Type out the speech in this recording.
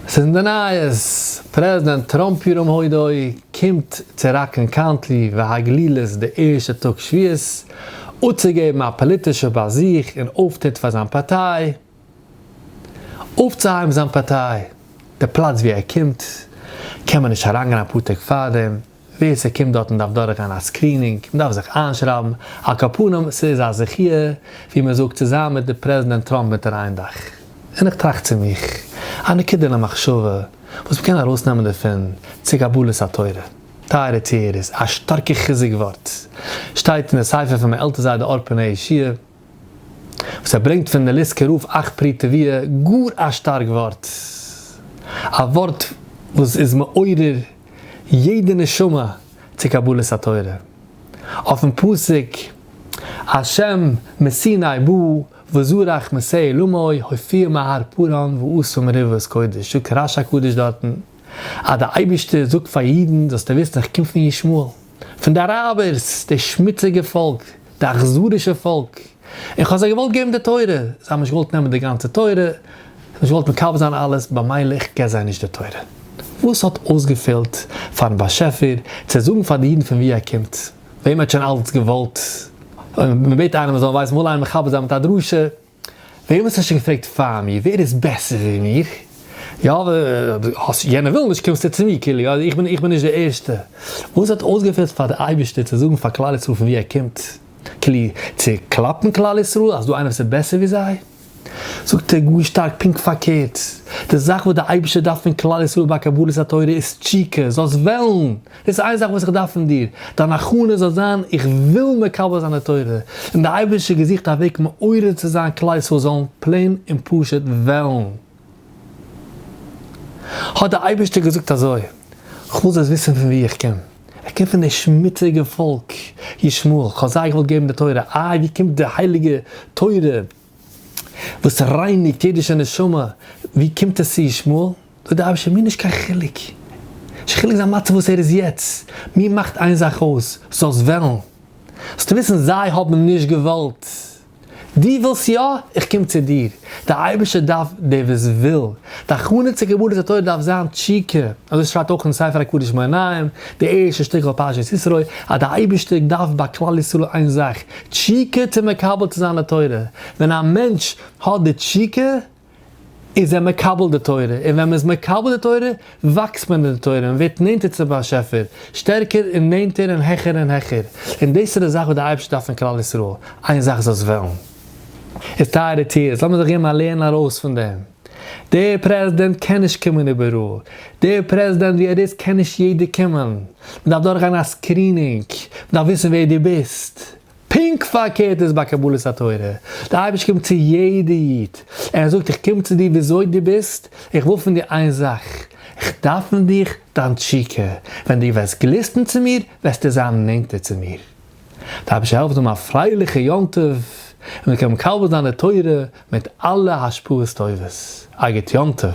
ס'איז אין די נייעס, פרעזידענט טראמפ ירום הודו קומט צו ראקלענד קאונטי והגלילות די ערשטע טאג שביעות אפצוגעבן א פאליטישע באזוך און אויפטריט פאר זיין פארטיי אויפצוהייבן זיין פארטיי. די פלאץ וואו ער קומט קען מען נישט אריינגיין אפאר טעג פארדעם. ווער ס'קומט דארטן דארף דורכגיין א סקרינינג, מ'דארף זיך איינשרייבן, על כל פנים ס'איז א זכי' ווי מ'זאגט צו זיין מיט די פרעזידענט טראמפ אונטער איין דאך. און איך טראכט צו מיך, א נקודה למחשבה וואס מ'קען ארויסנעמען דערפון צו קבלת התורה, טייערע טוערס, א שטארקע חיזוק ווארט שטייט אין די ספר פון מיין עלטער זיידע אור פני עשייה, וואס ער ברענגט פון די ליסקע רב אך פרי טביה, גאר א שטארק ווארט, א ווארט וואס איז מעורר יעדע נשמה צו קבלת התורה, אויפן פסוק השם מסיני בא וזרח מסעי לומי הופיע מהר פרן ועשה מריבות קודש, זאגט רש הקדוש דארטן אז די אייבערשטער זאגט פאר אידן זאלסטו וויסן איך קום פון ישמעאל. פון די אראבערס, די שמוציגע פאלק, די אכזרישע פאלק, און כ'האב זיי געוואלט געבן די תורה, זיי האבן נישט געוואלט נעמען די גאנצע תורה, זיי האבן נישט געוואלט מקבל זיין אלעס, במילא איך געב זיי נישט די תורה. וואס האט אויסגעפעלט פאר'ן באשעפער צו זאגן פאר די אידן פון וואו ער קומט? וועם ער האט שוין אלץ געוואלט? אויב מ'בעט איינעם ער זאל ווייסן, מ'וועל איינעם מכבד זיין מיט א דרשה. ווער וואס האט שוין געפרעגט פאר מיר ווער איז בעסער ווי מיר? יא וואס יענער וויל נישט קומסטו צו מיר כאילו יא איך בין איך בין נישט די ערשטע וואס האט אויסגעפעלט פאר די אייבערשטער צו זאגן פאר כלל ישראל פון ווי ער קומט כאילו צו קלאפן כלל ישראל אז דא איינער וואס איז בעסער ווי זיי זאגט ער גאר שטארק פונקט פארקערט די זאך וואס די אייבערשטער דארף פון כלל ישראל ביי קבלת התורה איז תשוקה זאלסט וועלן דאס איז איין זאך וואס איך דארף פון דיר, דיין הכנה זאל זיין איך וויל מקבל זיין די תורה, און די אייבערשטער געזוכט א וועג מעורר צו זיין כלל ישראל זאלן פלעין און פשוט וועלן. האט דער אייבערשטער געזאגט אזוי, כ'וויל זאלסט וויסן פון וואו איך קום, איך קום פון די שמוציגע פאלק ישמעאל, כ'האב זיי געוואלט געבן די תורה, איי ווי קומט די הייליגע תורה, וואס רייניגט אידישע נשמה, ווי קומט עס צו ישמעאל? דאס דארף שוין מיר נישט קיין חילוק, נישט חילוק זיין מצב וואס ער איז יעצט, מיר מאכט איין זאך אויס, זאלסט וועלן, זאלסט וויסן זיי האבן נישט געוואלט, דו ווילסט יא, איך קום צו דיר, דער אייבערשטער דארף דער וואס וויל, די הכנה צו קבלת התורה דארף זיין תשוקה, אזוי שרייבט אויך אין ספר הקדוש מעיין עיון, די ערשטע שטיקל פרשת ישרוי, אז די אייבערשטער דארף ביי כלל ישראל איין זאך, תשוקה צו מקבל צו זיין די תורה, ווען א מענטש האט די תשוקה איז ער מקבל די תורה, און ווען מען איז מקבל די תורה וואקסט מען אין די תורה, מען ווערט נענטער צום באשעפער, שטערקער און נענטער און העכער און העכער, און דאס איז די זאך וואס די אייבערשטער דארף פון כלל ישראל, איין זאך זאלסט וועלן, איז טייערע טיערס, לאמיר זיך געבן א לערן ארויס פון דעם. דער פרעזידענט קען נישט קומען איבעראל, דער פרעזידענט ווי ער איז קען נישט יעדער קומען, מען דארף דורכגיין א סקרינינג, מען דארף וויסן ווער דו ביסט. פונקט פארקערט איז ביי קבלת התורה, דער אייבערשטער קומט צו יעדע איד, ער זאגט איך קום צו דיר וויאזוי דו ביסט, איך וויל פון דיר איין זאך, איך דארף פון דיך דיין תשוקה, ווען דו וועסט גליסטן צו מיר וועסטו זיין נענטער צו מיר. דארף נישט העלפט האבן א פרייליכע יום טוב און מען קען מקבל זיין די תורה מיט אלע השפעות טובות. א גוט יום טוב.